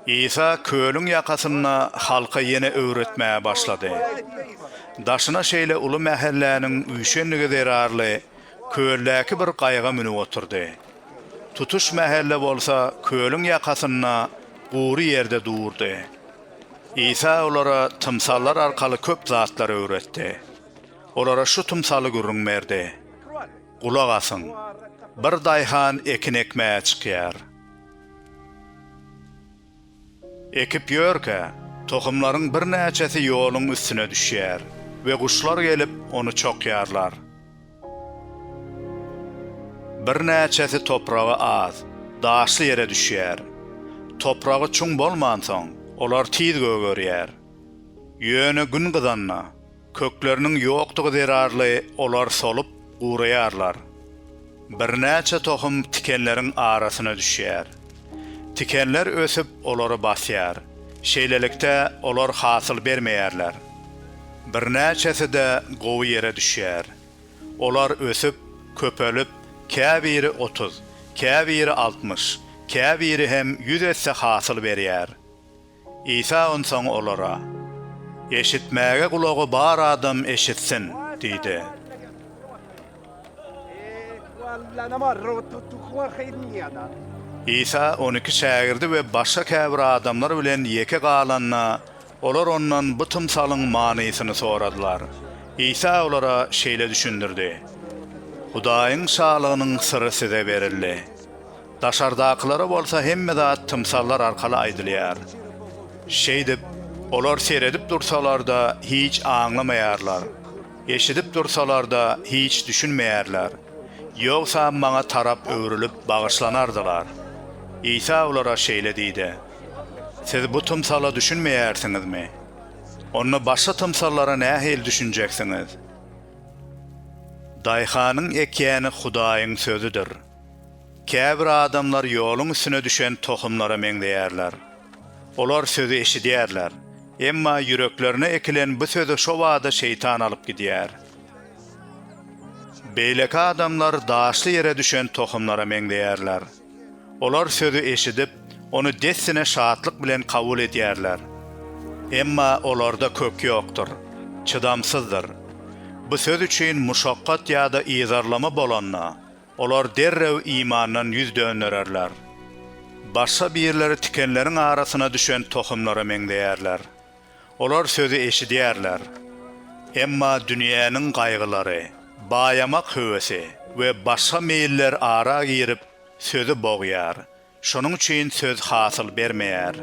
Isa kölüň ýakasynda halka ýene öwretmäge başlady. Daşyna şeýle uly mähelläniň üýşendigi zerarly, köldäki bir gaýyga münüp oturdy. Tutuş mähelle bolsa kölüň ýakasynda gury ýerde durdy. Isa olara tymsallar arkaly köp zatlar öwretdi. Olara şu tymsaly gürrüň berdi, Gulak asyň, bir daýhan ekin ekmäge çykýar. Ekip ýörkä, tohumlaryň birnäçesi ýoluň üstüne düşýär we guşlar gelip, ony çokýarlar. Birnäçesi topragy az, daşly ýere düşýär. Topragy çuň bolmansoň, olar tiz gögerýär. Ýöne gün gyzanda, Kökleriniň ýokdugy zerarly olar solup, guraýarlar. Birnäçe tohum tikenleriň arasyna düşýär. Tikenler ösüp, olary basýar. Şeýlelikde, olar hasyl bermeýärler. Birnäçesi-de gowy ýere düşýär. Olar ösüp, köpelip, käbiri otuz, käbiri altmyş, käbiri hem ýüz esse hasyl berýär. Isa onsoň olara, Eşitmäge gulagy bar adam eşitsin! diýdi. Isa on iki şägirdi we başga käbir adamlar bilen ýeke galanda, olar ondan bu tymsalyň manysyny soradylar. Isa olara şeýle düşündirdi, Hudaýyň Şalygynyň syry size berildi. Daşardakylara bolsa hemme zat tymsallar arkaly aýdylýar. Şeýdip, olar seredip dursalar-da hiç aňlamaýarlar, eşidip dursalar-da hiç düşünmeýärler, ýogsa Maňa tarap öwrülip bagyşlanardylar. Isa olara şeýle diýdi, Siz bu tymsala düşünmeýärsiňizmi? Onda başga tymsallara nähili düşünjeksiňiz? Daýhanyň ekýäni Hudaýyň Sözüdir. Käbir adamlar ýoluň üstüne düşen tohumlara meňzeýärler. Olar sözi eşidýärler, emma ýüreklerine ekilen bu sözi şobada Şeýtan alyp gidýär. Beýleki adamlar daşly ýere düşen tohumlara meňzeýärler. Olar sözi eşidip, ony dessine şatlyk bilen kabul edýärler. Emma olarda kök ýokdur, çydamsyzdyr. Bu söz üçin muşakgat ýa-da yzarlama bolanda, Olar derrew imandan ýüz döndererler. Başga birleri tikenleriň arasyna düşen tohumlara meňzeýärler. Olar sözi eşidýärler. Emma dünýäniň gaýgylary, baýamak höwesi we başga meýiller ara girip, sözi bogýar Şonuň üçin söz hasyl bermeýär.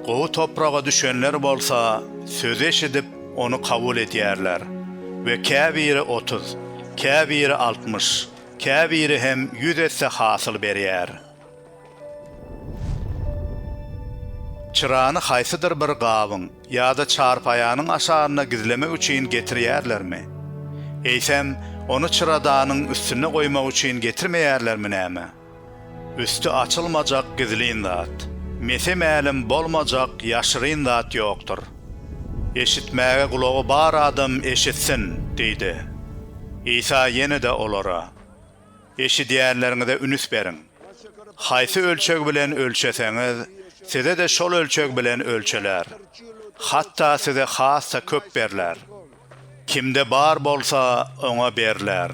Gowy topraga düşenler bolsa sözi eşidip, ony kabul edýärler we käbiri otuz, käbiri altmyş, käbiri hem ýüz esse hasyl berýär. Çyrany haýsydyr bir gabyň ýa-da çarpaýanyň aşagynda gizlemek üçin getirýärlermi? Eýsem, ony çyradanyň üstünde goýmak üçin getirmeýärlermi näme? Üsti açylmajak gizlin zat. Mese mälim bolmajak ýaşyryn zat ýokdur. Eşitmäge gulagy bar adam eşitsin! diýdi. Isa ýene-de olara, Eşidýänleriňize ünüs beriň. Haýsy ölçeg bilen ölçeseňiz, size-de şol ölçeg bilen ölçeler. Hatda size has-da köp berler. Kimde bar bolsa, oňa berler.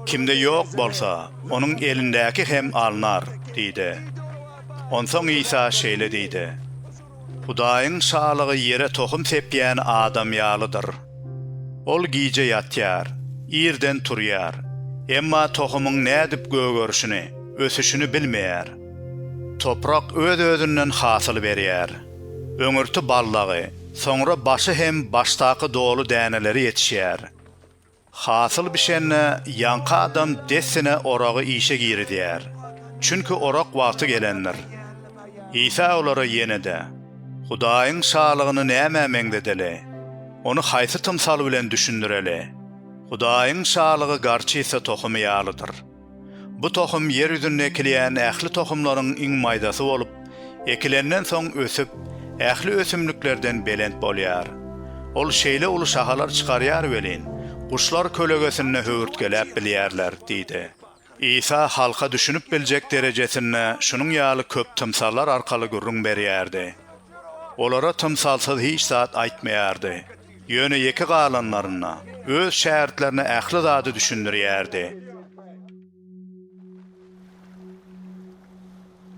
Kimde ýok bolsa, onuň elindäki hem alnar diýdi. Onsoň Isa şeýle diýdi, Hudaýyň Şalygy ýere tohum sepýän adam ýalydyr. Ol gije ýatýar, irden turýar, emma tohumyň nädip gögerişini, ösüşini bilmeýär. Toprak öz-özünden hasyl berýär. Öňürti ballagy, soňra başy hem başdaky doly däneleri ýetişýär. Hasyl bişende ýaňky adam dessine oragy işe girizýär, çünki orak wagty gelendir. Isa olara ýene-de, Hudaýyň Şalygyny nämä meňzedeli? Ony haýsy tymsal bilen düşündireli? Hudaýyň Şalygy garçysa tohumy ýalydyr. Bu tohum ýer ýüzünde ekilýän ähli tohumlaryň iň maýdasy bolup, ekilenden soň ösüp, ähli ösümliklerden belent bolýar. Ol şeýle uly şahalar çykarýar welin, guşlar kölegesinde höwürtgeläp bilýärler diýdi. Isa halka düşünip biljek derejesinde şunuň ýaly köp tymsallar arkaly gürrüň berýärdi. Olara tymsalsyz hiç zat aýtmaýardy. Ýöne ýeke galanlarynda öz şägirtlerine ähli zady düşündirýärdi.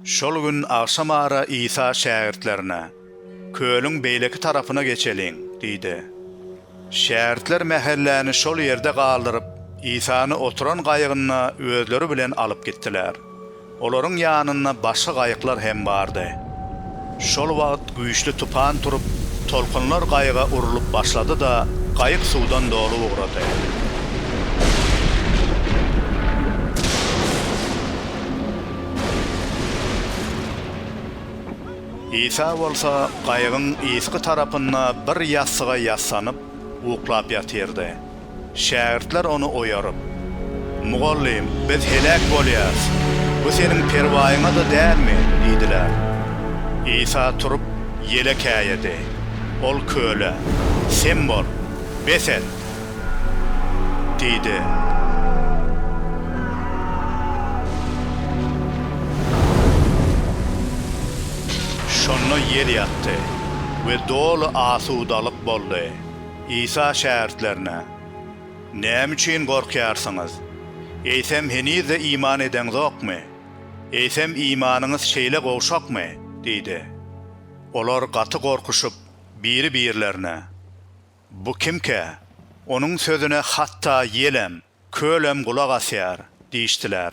Şol gün agşam ara Isa şägirtlerine, Kölüň beýleki tarapyna geçeliň! diýdi. Şägirtler mähelläni şol ýerde galdyryp, Isany oturan gaýygynda özleri bilen alyp gitdiler. Olaryň ýanynda başga gaýyklar hem bardy. Şol wagt güýçli tupan turup, tolkunlar gaýyga urlup başlady-da, gaýyk suwdan dolup ugrady. Isa bolsa gaýygyň yzky tarapynda bir ýassyga ýassanyp, uklap ýatyrdy. Şägirtler ony oýaryp. Mugallym, biz heläk bolýarys. Bu seniň perwaýyňa-da dälmi? diýdiler. Isa turup, ýele käýedi. Ol köle, Sem bol, bes et! diýdi. Şonda ýel ýatdy we doly asudalyk boldy. Isa şägirtlerine, Näme üçin gorkýarsyňyz? Eýsem, heniz-de iman edeňzokmy? Eýsem, imanyňyz şeýle gowşakmy? diýdi. Olar gaty gorkuşyp, biri-birlerine, Bu kimkä? Onuň sözüne hatda ýelem, kölem gulak asýar diýişdiler.